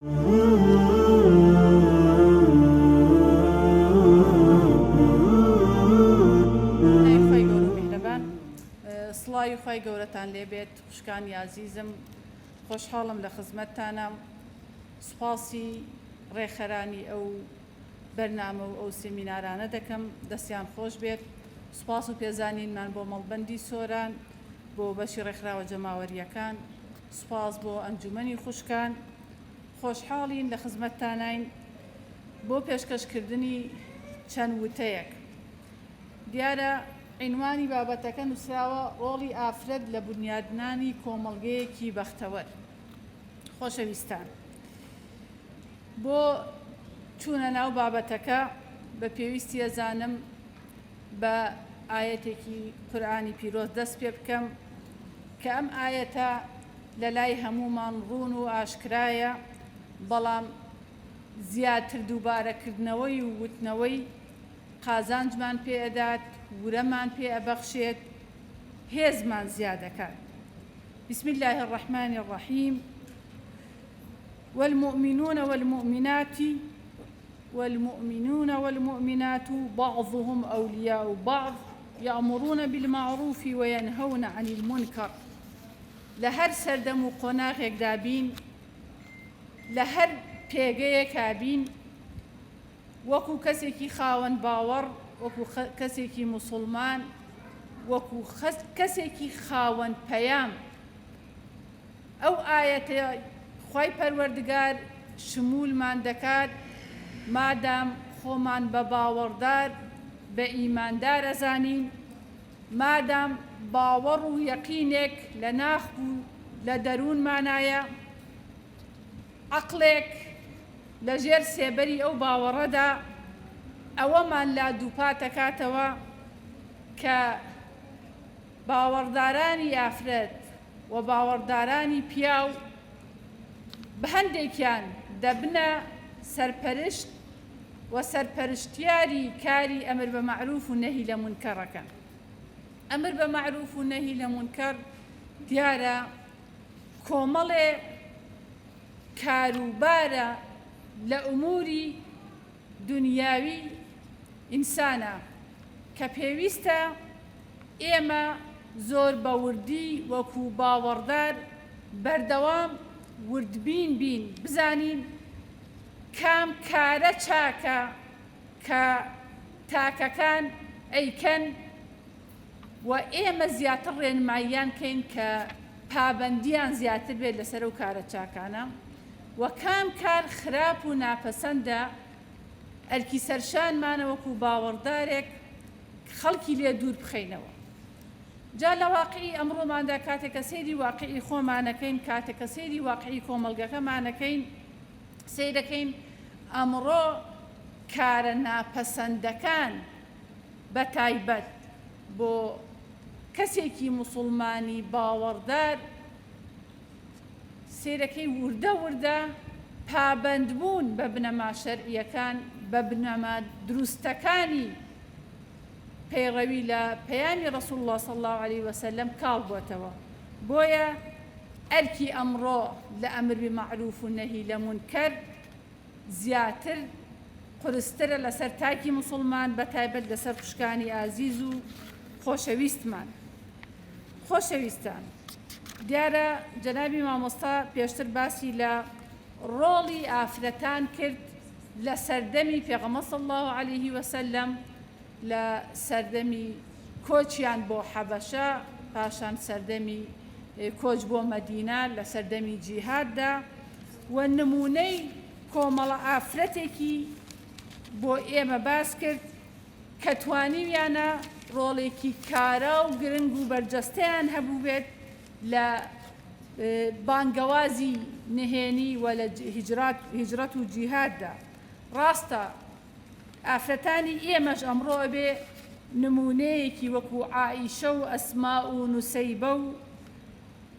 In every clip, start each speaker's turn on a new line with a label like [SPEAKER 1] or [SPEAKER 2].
[SPEAKER 1] سڵاوی خی گەورەتان لێبێت خوشکانی یازیزم خۆشحاڵم لە خزمەتتانە سوپاسی ڕێخەرانی ئەو بەرنامە و ئەو سمینارانە دەکەم دەستیان خۆش بێت سوپاس و پێزانینمان بۆ مەڵبەندی سۆران بۆ بەشی ڕێکخراوە جەماوەریەکان سوپاس بۆ ئەنجومەنی خوشکان خۆشحاڵین لە خزمەتتاناین بۆ پێشکەشکردنی چەند وتەیەک دیارە عینوانی بابەتەکە نووسراوە ڕۆڵی ئافرەت لە بنیادنانی کۆمەڵگەیەکی بەختەوەر خۆشەویستان بۆ چوونە ناو بابەتەکە بە پێویستی ئەزانم بە ئاەتێکی قورآانی پیرۆز دەست پێ بکەم کە ئەم ئایەتە لەلای هەموومان ڕوون و ئاشکرایە، بەڵام زیاتر دووبارەکردنەوەی و وتنەوەی قازانجمان پێ ئەدات، ورەمان پێ ئەبەخشێت، هێزمان زیادەکات. بسم اللە الرحمن الرحیم والمؤمنون والمؤمنات والمؤمنون والمؤمنات بعضهم اولیاء بعض یاموروون بیلماعروفی وەینهەوون عەنیل مونکەڕ، لە هەر سەردەم و قۆناغێکدا بین، لە هەر پێگەیەکا بین، وەکو کەسێکی خاوەن باوەڕ، وەکو کەسێکی موسوڵمان، وەکو کەسێکی خاوەن پەیام، ئەو ئایەتەی خوای پەروەردگار شموولمان دەکات مادام خۆمان بە باوەڕدار بە ئیماندار ئەزانین مادام باوەڕ و یەقینێک لە ناخ و لە دەروونمانایە عەقڵێک لە ژێر سێبەری ئەو باوەڕەدا ئەوەمان لا دووپاتەکاتەوە کە باوەڕدارانی ئافرەت و باوەڕدارانی پیاو بە هەندێکیان دەبنە سەرپەرشت و سەرپەرشتیاری کاری ئەمر بە مەعروف و نەهی لە مونکەڕەکەن. ئەمر بە مەعروف و نەهی لە مونکەڕ دیارە کۆمەڵێ کاروبارە لە ئوموری دونیاوی ئینسانە کە پێویستە، ئێمە زۆر بە وردی وەکو باوەڕدار بەردەوام وردبین بین بزانین کام کارە چاکە کە تاکەکان ئەیکەن و ئێمە زیاتر ڕێنماییان کەین کە پابەندیان زیاتر بێت لەسەر و کارە چاکانە و کام کار خراپ و ناپەسەندە ئەرکی سەرشانمانە وەکو باوەڕدارێک خەڵکی لێ دوور بخەینەوە. جا لە واقعی ئەمڕۆماندا کاتێک کە سەیری واقعی خۆمانەکەین، کاتێک کە سەیری واقعی کۆمەڵگەکەمانەکەین، سەیرەکەین ئەمڕۆ کارە ناپەسەندەکان بە تایبەت بۆ کەسێکی موسڵمانی باوەڕدار، سەیرەکەی ووردە ووردە پابەند بوون بە بنەما شەرعیەکان بە بنەما دروستەکانی پەیڕەوی لە پەیامی ڕەسول اللە صلی اللە علیە وسلم کاڵ بۆتەوە بۆیە ئەرکی ئەمڕۆ لە ئەمر بمعروف و نەهی لە مونکەر زیاتر قورسترە لەسەر تاکی موسڵمان بەتایبەت لەسەر خوشکانی ئازیز و خۆشەویستمان. خۆشەویستان دیارە جەنابی مامۆستا پێشتر باسی لە ڕۆڵی ئافرەتان کرد لە سەردەمی پێغەمە صلی الله عليه وسلم لە سەردەمی کۆچیان بۆ حەبەشە پاشان سەردەمی کۆچ بۆ مەدینە لە سەردەمی جیهاددا و نموونەی کۆمەڵە ئافرەتێکی بۆ ئێمە باس کرد کە توانیویانە ڕۆڵێکی کارا و گرنگ و بەرجەستەیان هەبووبێت لە بانگەوازی نهێنی و لە هیجرەت و جیهاددا. ڕاستە ئافرەتانی ئێمەش ئەمڕۆ ئەبێ نموونەیەکی وەکوو عائیشە و ئەسما و نوسەیبە و،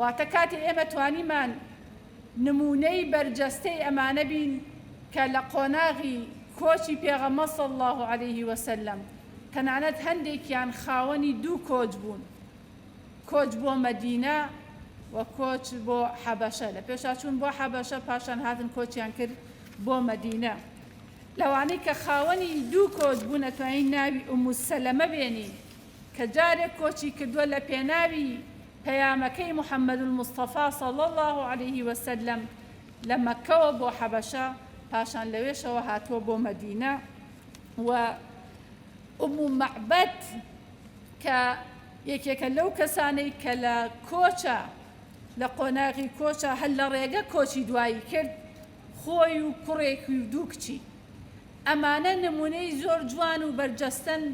[SPEAKER 1] واتە کاتێ ئێمە توانیمان نموونەی بەرجەستەی ئەمانە بین کە لە قۆناغی کۆچی پێغەمبەر صلی اللە علیه وسلم تەنانەت هەندێکیان خاوەنی دوو کۆچ بوون کۆچ بۆ مەدینە و کۆچ بۆ حەبەشە لە پێشا چوون بۆ حەبەشە پاشان هاتن کۆچیان کرد بۆ مەدینە لەوانەی کە خاوەنی دوو کۆچ بوون ئەتوانین ناوی ئوموسەلەمە بێنین کە جارێک کۆچی کردووە لە پێناوی پەیامەکەی محمد المصطفی صلی اللە علیه وسلم لە مەککەوە بۆ حەبەشە پاشان لەوێشەوە هاتووە بۆ مەدینە و ئومو مەعبەد کە یەکێکە لەو کەسانەی کە لە کۆچە لە قۆناغی کۆچە هەل لە ڕێگە کۆچی دوایی کرد خۆی و کوڕێکی و دوو کچی. ئەمانە نموونەی زۆر جوان و بەرجەستەن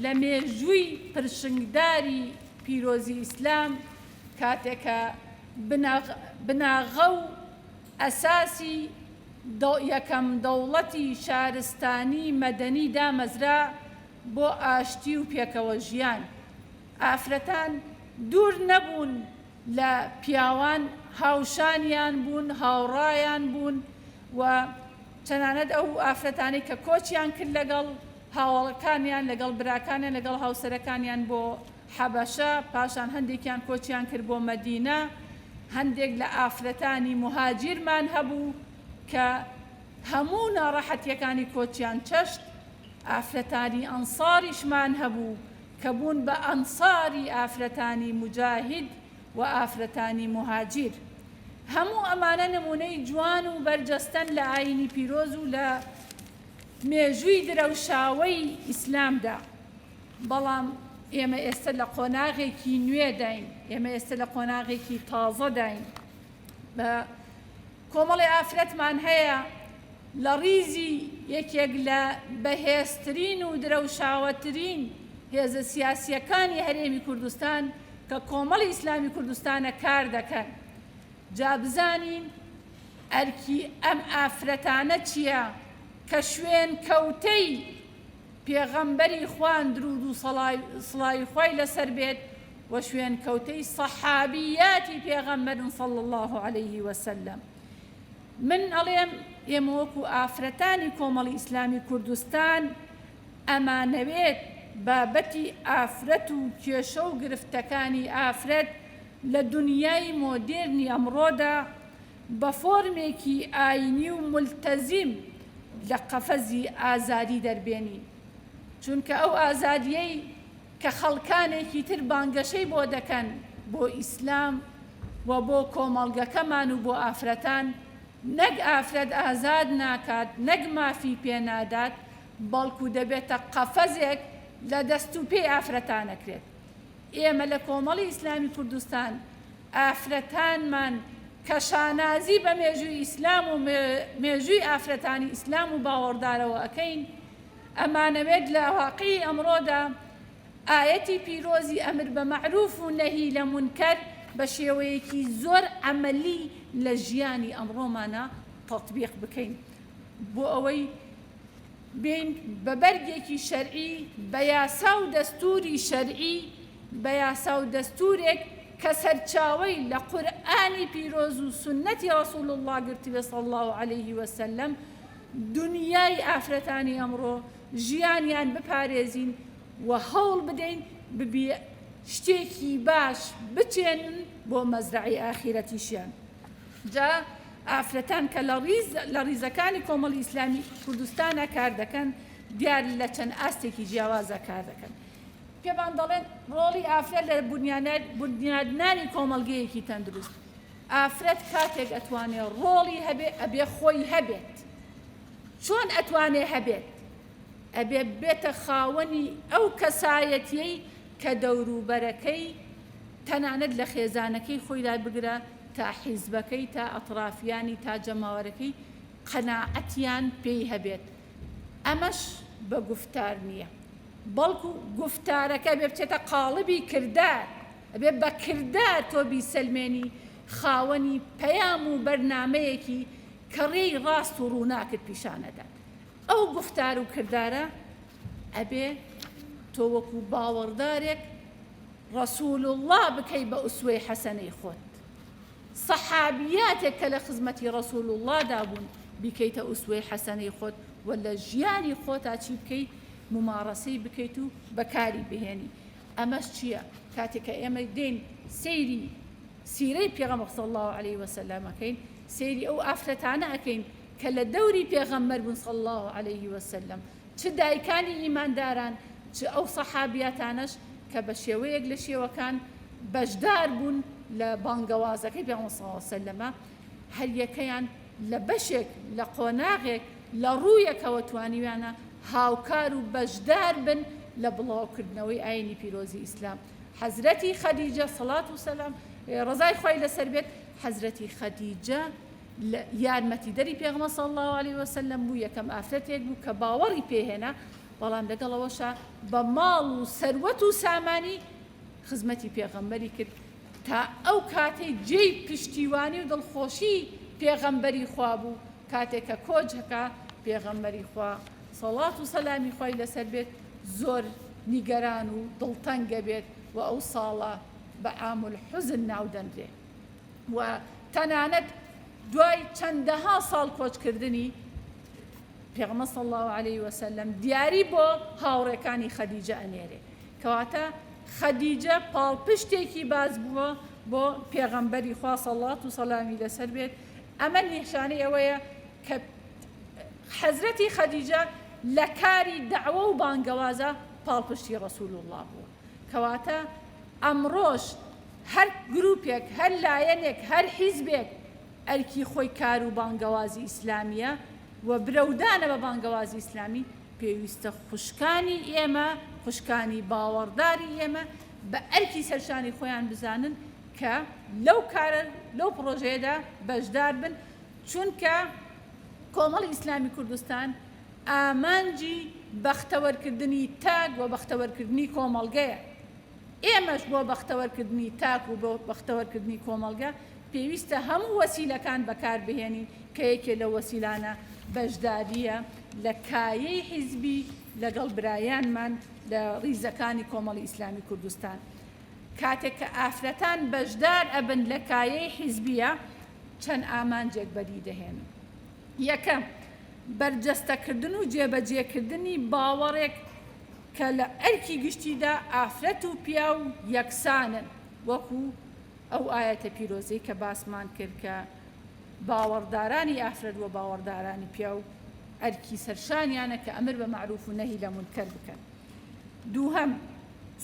[SPEAKER 1] لە مێژووی پرشنگداری پیرۆزی ئیسلام کاتێک کە بناغە و ئەساسی یەکەم دەوڵەتی شارستانی مەدەنی دامەزرا بۆ ئاشتی و پێکەوە ژیان. ئافرەتان دوور نەبوون لە پیاوان هاوشانیان بوون، هاوڕایان بوون و تەنانەت ئەو ئافرەتانەی کە کۆچیان کرد لەگەڵ هاوەڵەکانیان، لەگەڵ براکانیان، لەگەڵ هاوسەرەکانیان بۆ حەبەشە، پاشان هەندێکیان کۆچیان کرد بۆ مەدینە، هەندێک لە ئافرەتانی موهاجیرمان هەبوو کە هەموو ناڕەحەتییەکانی کۆچیان چەشت، ئافرەتانی ئەنساریشمان هەبوو، کە بوون بە ئەنساری ئافرەتانی موجاهید و ئافرەتانی موهاجیر هەموو ئەمانە نموونەی جوان و بەرجەستەن لە ئاینی پیرۆز و لە مێژووی درەوشاوەی ئیسلامدا بەڵام ئێمە ئێستە لە قۆناغێکی نوێداین ئێمە ئێستە لە قۆناغێکی تازەداین بە کۆمەڵێ ئافرەتمان هەیە لە ڕیزی یەکێک لە بەهێزترین و درەوشاوەترین هێزە سیاسییەکانی هەرێمی کوردستان کە کۆمەڵی ئیسلامی کوردستانە کار دەکەن، جا بزانین ئەرکی ئەم ئافرەتانە چییە کە شوێنکەوتەی پێغەمبەری خوان دروود و سڵاوی خوای لەسەر بێت، و شوێنکەوتەی صەحابیاتی پێغەمبەرن صلی اللە علیە وسلم من ئەڵێم ئێمە وەکو ئافرەتانی کۆمەڵی ئیسلامی کوردستان ئەمانەوێت بابەتی ئافرەت و کێشە و گرفتەکانی ئافرەت لە دنیای مۆدێرنی ئەمڕۆدا بە فۆرمێکی ئاینی و ملتەزیم لە قەفەزی ئازادی دەربێنین چونکە ئەو ئازادیەی کە خەڵکانێکی تر بانگەشەی بۆ دەکەن بۆ ئیسلام و بۆ کۆمەڵگەکەمان و بۆ ئافرەتان، نەک ئافرەت ئازاد ناکات، نەک مافی پێ نادات، بەڵکو دەبێتە قەفەزێک لە دەست و پێی ئافرەتانەکرێت. ئێمە لە کۆمەڵی ئیسلامی کوردستان ئافرەتانمان کە شانازی بە مێژووی ئیسلام و مێژووی ئافرەتانی ئیسلام و باوەڕدارەوە ئەکەین، ئەمانەوێت لە واقعی ئەمڕۆدا ئایەتی پیرۆزی ئەمر بە مەعروف و نەهی لە مونکەر بە شێوەیەکی زۆر عەمەلی لە ژیانی ئەمڕۆمانا تەتبیق بکەین بۆ ئەوەی بێین بە بەرگێکی شەرعی بە یاسا و دەستوری شەرعی بە یاسا و دەستورێک کە سەرچاوەی لە قورئانی پیرۆز و سوننەتی ڕەسول اللە گرتبێ صلی اللە علیه وسلم دونیای ئافرەتانی ئەمڕۆ ژیانیان بپارێزین و هەوڵ بدەین ببی شتێکی باش بچێنن بۆ مەزرەعی ئاخیرەتیشیان جا ئافرەتان کە لە ڕیز لە ڕیزەکانی کۆمەڵی ئیسلامی کوردستانە کار دەکەن دیار لە چەند ئاستێکی جیاوازە کار دەکەن پێمان دەڵێن ڕۆڵی ئافرەت لە بنیادنانی کۆمەڵگەیەکی تەندروست ئافرەت کاتێک ئەتوانێ ڕۆڵی هەبێ ئەبێ خۆی هەبێت چۆن ئەتوانێ هەبێت ئەبێ بێتە خاوەنی ئەو کەسایەتیەی کە دەوروبەرەکەی تەنانەت لە خێزانەکەی خۆیدا بگرە تا حیزبەکەی تا ئەتڕافیانی تا جەماوەرەکەی قەناعەتیان پێی هەبێت ئەمەش بە گوفتار نییە بەڵکو گوفتارەکە بێ بچێتە قاڵبی کردار. ئەبێ بە کردار تۆ بیسەلمێنی خاوەنی پەیام و بەرنامەیەکی کە ڕێی ڕاست و ڕووناکت پیشان ئەدات. ئەو گوفتار و کردارە ئەبێ تۆ وەکوو باوەڕدارێک ڕەسوول اللە بکەی بە ئوسوەی حەسەنەی خۆت. سەحابیاتێک کە لە خزمەتی ڕەسوول اللە دا بوون بیکەیتە ئوسوەی حەسەنەی خۆت و لە ژیانی خۆتا چی بکەی موماڕەسەی بکەیت و بەکاری بهێنی. ئەمەش چیە کاتێک کە ئێمە دێین سەیری سیرەی پێغەمبەر صلی اللە علیە وسلم ئەکەین سەیری ئەو ئافرەتانە ئەکەین کە لە دەوری پێغەمبەر بوون صلی اللە علیە وسلم چ دایکانی ئیمانداران چ ئەو سەحابیاتانەش کە بە شێوەیەک لە شێوەکان بەشدار بوون لە بانگەوازەکەی پێغەمبەر صلی اللە علیە وسلم هەریەکەیان لە بەشێک لە قۆناغێک لە ڕوویەکەوە توانیویانە هاوکار و بەشدار بن لە بڵاوکردنەوەی ئاینی پیرۆزی ئیسلام، حەزرەتی خەدیجە، سەڵات و سەلام، ی ڕەزای خوای لەسەر بێت، حەزرەتی خەدیجە یارمەتیدەری پێغەمبەر صلی اللە علیە وسلم بوو، یەکەم ئافرەتێک بوو کە باوەڕی پێ هێنا، بەڵام لەگەڵ ئەوەشا بە ماڵ و سەروەت و سامانی خزمەتی پێغەمبەری کرد، تا ئەو کاتەی جێی پشتیوانی و دڵخۆشی پێغەمبەری خوا بوو کاتێ کە کۆچ هەکا پێغەمبەری خوا سەڵات و سەلامی خوای لەسەر بێت زۆر نیگەران و دڵتەنگ گەبێت و ئەو ساڵە بە عام الحزن ناو دەنرێ و تەنانەت دوای چەندەها ساڵ کۆچ کردنی پێغمە صلی الله عليه وسلم دیاری بۆ هاوڕێکانی خەدیجە ئەنێرێ کەواتە خەدیجە پاڵپشتێکی باز بووە بۆ پێغەمبەری خوا سەڵات و سەلامی لەسەر بێت ئەمە نیشانەی ئەوەیە کە حەزرەتی خەدیجە لە کاری داوە و بانگەوازە پاڵپشتی ڕسول الله بووە کەواتە ئەمڕۆش هەر گروپێک هەر لایەنێک هەر حیزبێک ئەرکی خۆی کار و بانگەوازی ئیسلامیە و برەودانە بە بانگەوازی ئیسلامی پێویستە خوشکانی ئێمە، خوشکانی باوەڕداری ئێمە بە ئەرکی سەرشانی خۆیان بزانن کە لەو کارە، لەو پڕۆژەیەدا بەشدار بن، چونکە کۆمەڵی ئیسلامی کوردستان ئامانجی بەختەوەرکردنی تاک و بەختەوەرکردنی کۆمەڵگەیە. ئێمەش بۆ بەختەوەرکردنی تاک و بۆ بەختەوەرکردنی کۆمەڵگە پێویستە هەموو وەسیلەکان بەکاربهێنین کە یەکێ لەو وەسیلانە بەشدارییە لە کایەی حیزبی لەگەڵ برایانمان لە ڕیزەکانی کۆمەڵی ئیسلامی کوردستان کاتێک کە ئافرەتان بەشدار ئەبن لە کایەی حیزبیە چەند ئامانجێک بەدی دەهێنن یەکەم بەرجەستەکردن و جێبەجێکردنی باوەڕێک کە لە ئەرکی گشتیدا ئافرەت و پیاو یەکسانن وەکو ئەو ئاەتە پیرۆزەی کە باسمان کرد کە باوەڕدارانی ئافرەت و باوەڕدارانی پیاو ئەرکی سەرشانیانە کە ئەمر بە مەعروف و نەهی لە مونکەر بکەن. دووهەم،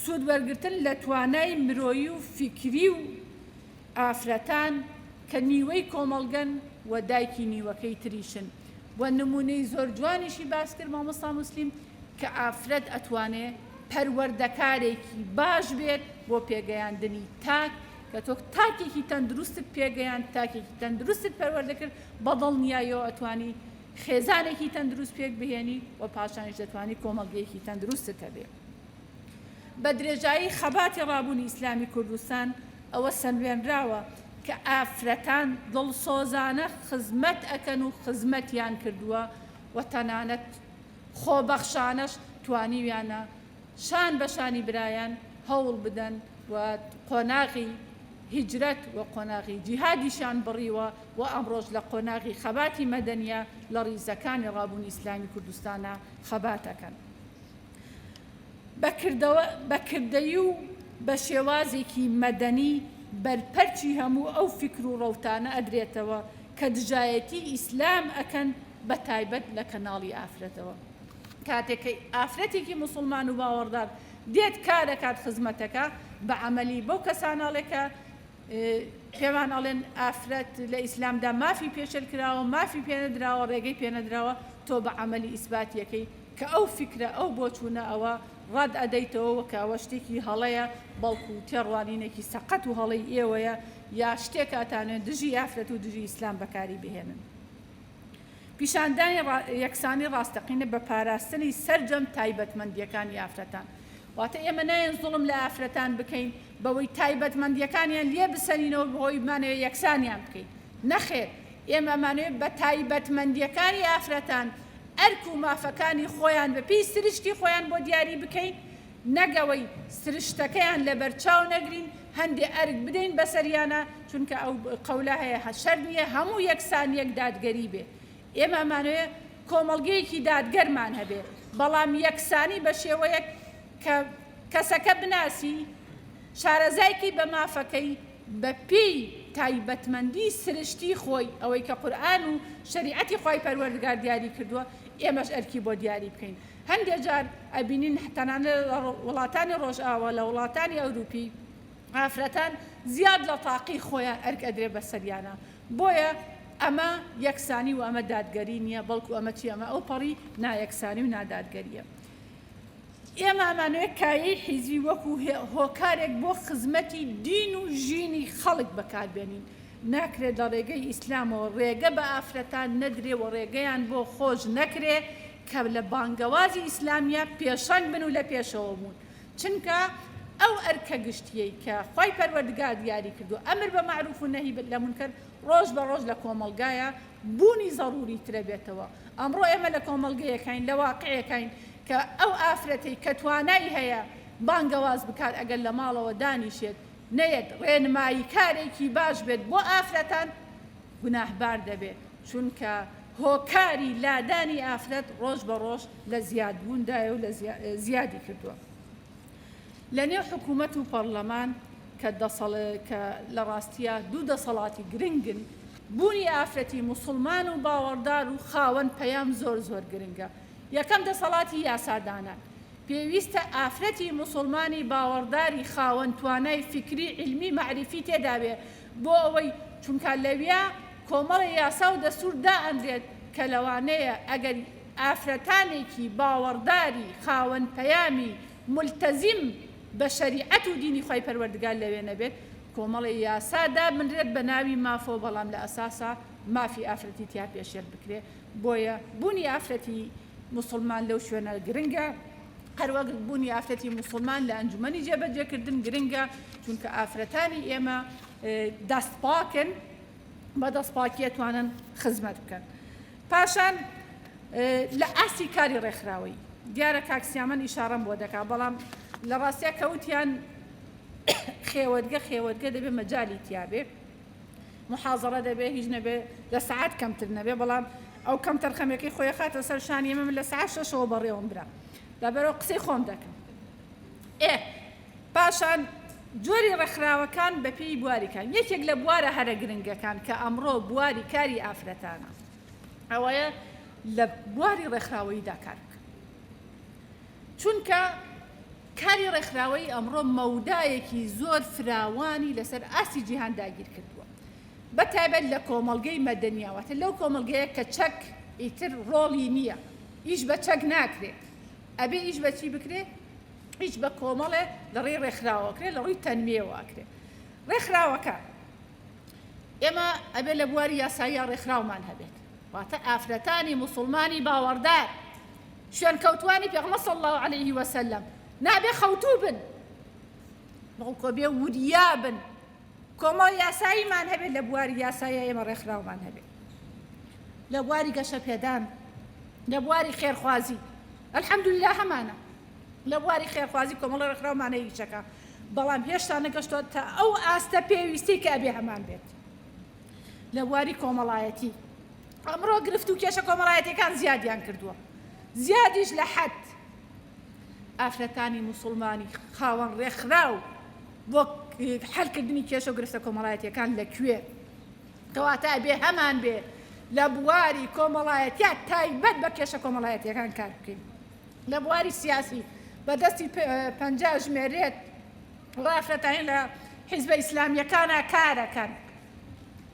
[SPEAKER 1] سوود وەرگرتن لە توانای مرۆیی و فیکری و ئافرەتان کە نیوەی کۆمەڵگەن و دایکی نیوەکەی تریشن و نموونەی زۆر جوانیشی باس کرد مامۆستا موسلیم کە ئافرەت ئەتوانێ پەروەردەکارێکی باش بێت بۆ پێگەیاندنی تاک کە تۆ تاکێکی تەندروستت پێگەیاند، تاکێکی تەندروستت پەروەردە کرد، بە دڵنیاییەوە ئەتوانی خێزانێکی تەندروست پێک بهێنی و پاشانیش دەتوانی کۆمەڵگەیەکی تەندروستت هەبێت. بە درێژایی خەباتی ڕابوونی ئیسلامی کوردستان ئەوە سەلمێنراوە کە ئافرەتان دڵسۆزانە خزمەت ئەکەن و خزمەتیان کردووە و تەنانەت خۆبەخشانەش توانیویانە شان بە شانی برایان هەوڵ بدەن و قۆناغی هیجرەت و قۆناغی جیهادیشیان بڕیوە و ئەمڕۆش لە قۆناغی خەباتی مەدەنیە لە ڕیزەکانی ڕابوونی ئیسلامی کوردستانا خەبات ئەکەن بە کردەیی و بە شێوازێکی مەدەنی بەرپەرچی هەموو ئەو فیکر و ڕەوتانە ئەدرێتەوە کە دژایەتی ئیسلام ئەکەن بە تایبەت لە کەناڵی ئافرەتەوە. کاتێک کە ئافرەتێکی موسڵمان و باوەڕدار دێت کار دەکات خزمەتەکە بە عەمەلی بەو کەسانەڵێ کە پێمان ئەڵێن ئافرەت لە ئیسلامدا مافی پێشل کراوە مافی پێنەدراوە ڕێگەی پێنەدراوە تۆ بە عملی ئیسباتیەکەی کە ئەو فکرە ئەو بۆ چوونە ئەوە ڕاد ئەدەیتەوە کەەوە شتێکی هەڵەیە بەڵکو و تێڕوانینێکی سەقەت و هەڵی ئێوەیە یا شتێکاتانێن دژی ئافرەت و دژی ئیسلام بەکاری بهێنن پیشاندانی یەکسانی ڕاستەقینە بە پاراستنی سەرجەم تایبەتمەندییەکانی ئافرەتان. واتە ئێمە نایەن زوڵم لە ئافرەتان بکەین بەوەی تایبەتمەندییەکانیان لێ بسەرینەوە بەهۆی بمانەوێت یەکسانیان بکەین. نەخێر، ئێمە ئەمانەوێت بە تایبەتمەندییەکانی ئافرەتان ئەرک و مافەکانی خۆیان بە پێی سرشتی خۆیان بۆ دیاری بکەین، نەک ئەوەی سرشتەکەیان لەبەرچاو نەگرین هەندێ ئەرک بدەین بەسەریانا چونکە ئەو قەولە هەیە هەشەر نیە هەموو یەکسان یەک دادگەری بێ ئێمە ئەمانەوێ کۆمەڵگەیەکی دادگەرمان هەبێ بەڵام یەکسانی بەشێوەیەک کە کەسەکە بناسی شارەزایکی بە مافەکەی بە پێی تایبەتمەندی سرشتی خۆی ئەوەی کە قورئان و شەریعەتی خوای پەروەردگار دیاری کردووە ئێمەش ئەرکی بۆ دیاری بکەین هەندێک جار ئەبینین تەنانەت لە وڵاتانی ڕۆژئاوا، لە وڵاتانی ئەوروپی ئافرەتان زیاد لە تاقی خۆیان ئەرک ئەدرێت بە سەریانا، بۆیە ئەمە یەکسانی و ئەمە دادگەری نییە، بەڵکو ئەمە چییە؟ ئەمە ئەوپەڕی نایەکسانی و نادادگەرییە. ئێمە ئەمانەوێت کایەی حیزبی وەکو هۆکارێک بۆ خزمەتی دین و ژینی خەڵک بەکاربێنین، ناکرێت لە ڕێگەی ئیسلامەوە ڕێگە بە ئافرەتان نەدرێ و ڕێگەیان بۆ خۆش نەکرێ کە لە بانگەوازی ئیسلامیە پێشەنگ بن و لە پێشەوە بوون چونکە ئەو ئەرکە گشتیەی کە خوای پەروەردگار دیاری کردوە ئەمر بە مەعروف و نەهی لە مونکەر ڕۆژ بە ڕۆژ لە کۆمەڵگایا بوونی زەڕوری ترە بێتەوە ئەمڕۆ ئێمە لە کۆمەڵگەیەکاین لە واقعێکاین کە ئەو ئافرەتەی کە توانای هەیە بانگەواز بکات ئەگەر لە ماڵەوە دانیشێت نەیەت ڕێنماییکارێکی باش بێت بۆ ئافرەتان گوناهبار دەبێت، چونکە هۆکاری لادانی ئافرەت ڕۆژ بە ڕۆژ لە زیادبووندایە و زیادی کردووە لە نێو حکوومەت و پەڕلەمان کە کە لە ڕاستیە دوو دەسەڵاتی گرنگن بوونی ئافرەتی موسڵمان و باوەڕدار و خاوەن پەیام زۆر زۆر گرنگە یەکەم دەسەڵاتی یاسادانان پێویستە ئافرەتی موسوڵمانی باوەڕداری خاوەن توانای فیکری عیلمی مەعریفی تێدابێ بۆ ئەوەی چونکا لەویا کۆمەڵێ یاسا و دەستور دائەنرێت کە لەوانەیە ئەگەر ئافرەتانێکی باوەڕداری خاوەن پەیامی مولتەزیم بە شەریعەت و دینی خوای پەروەردگار لەوێ نەبێت کۆمەڵێ یاسا دابنرێت بە ناوی مافەوە بەڵام لە ئەساسا مافی ئافرەتی تیا پێشێل بکرێ بۆیە بونی ئافرەتی موسڵمان لەو شوێنە گرنگە هەروەک بوونی ئافرەتی موسڵمان لە ئەنجومەنی جێبەجێکردن گرنگە چونکە ئافرەتانی ئێمە دەست پاکن بە دەست پاکیە توانن خزمەت بکەن پاشان لە ئاسی کاری ڕێکخراوەی دیارە کاکسیامەن ئیشارەم بۆ دەکا بەڵام لە ڕاستە کەوتیان خێوەتگە خێوەتگە دەبێ مەجای تیاابێ محازەڕە دەبێ هیچ نەبێ لە سەعات کەمتر نەبێ بەڵام ئەو کەم تەرخەمەکەی خۆی خاتە سەر شانی ئێمە من لە سەعات شەشەوە بەڕێوەم برا لەبەرەوە قسەی خۆم دەکەم ئێ پاشان جۆری ڕێکخراوەکان بەپی بواریکان یەکێک لە بوارە هەرە گرنگەکان کە ئەمڕۆ بواری کاری ئافرەتانە ئەوەیە لە بواری ڕێکخراوەییدا کار بکە چونکە کاری ڕێکخراوەیی ئەمڕۆ مەودایەکی زۆر فراوانی لەسەر ئاستی جیهان داگیرکردووە بەتایبەت لە کۆمەڵگەی مەدەنیا واتە لەو کۆمەڵگەیە کە چەک ئیتر ڕۆڵی نییە ئیش بە چەک ناکرێ ئەبێ ئیش بەچی بکرێ ئیش بە کۆمەڵێ لەڕێی ڕێکخراوەکرێ لە ڕووی تەنوێواکرێ ڕێکخراوەکە ئێمە ئەبێ لە بواری یاسایی ڕێکخراومان هەبێت واتە ئافرەتانی مسلمانی باوەڕدار شوێنکەوتوانی پێغەمبەر صلی اللە علیە وسلم نابێ خەوتوو بن بەڵکۆ بێ وریا بن کۆمەڵ یاساییمان هەبێت لە بواری یاسایە ئێمە ڕێکخراومان هەبێت لە بواری گەشە پێدان لە بواری خێرخوازی ئەلحەمدللا هەمانە لە بواری خێرخوازی کۆمەڵە ڕێکخراومانە هیچەکە بەڵام هێشتا نەگەشتۆ تا ئەو ئاستە پێویستی کە ئەبێ هەمان بێت لە بواری کۆمەڵایەتی ئەمڕۆ گرفت و کێشە کۆمەڵایەتیەکان زیادیان کردووە زیادیش لە حەد ئافرەتانی موسڵمانی خاوەن ڕێکخراو بۆ حلکردنی کێشە و گرفتە کۆمەڵایەتیەکان لەکوێ کەواتە بێ هەمان بێ لە بواری کۆمەڵایەتیا تایبەت بە کێشە کۆمەڵایەتیەکان کار بکەین لە بواری سیاسی بەدەستی پنج ژمێرێت ڕافرەتانی لە حیزبە ئیسلامیەکانە کارەکەن.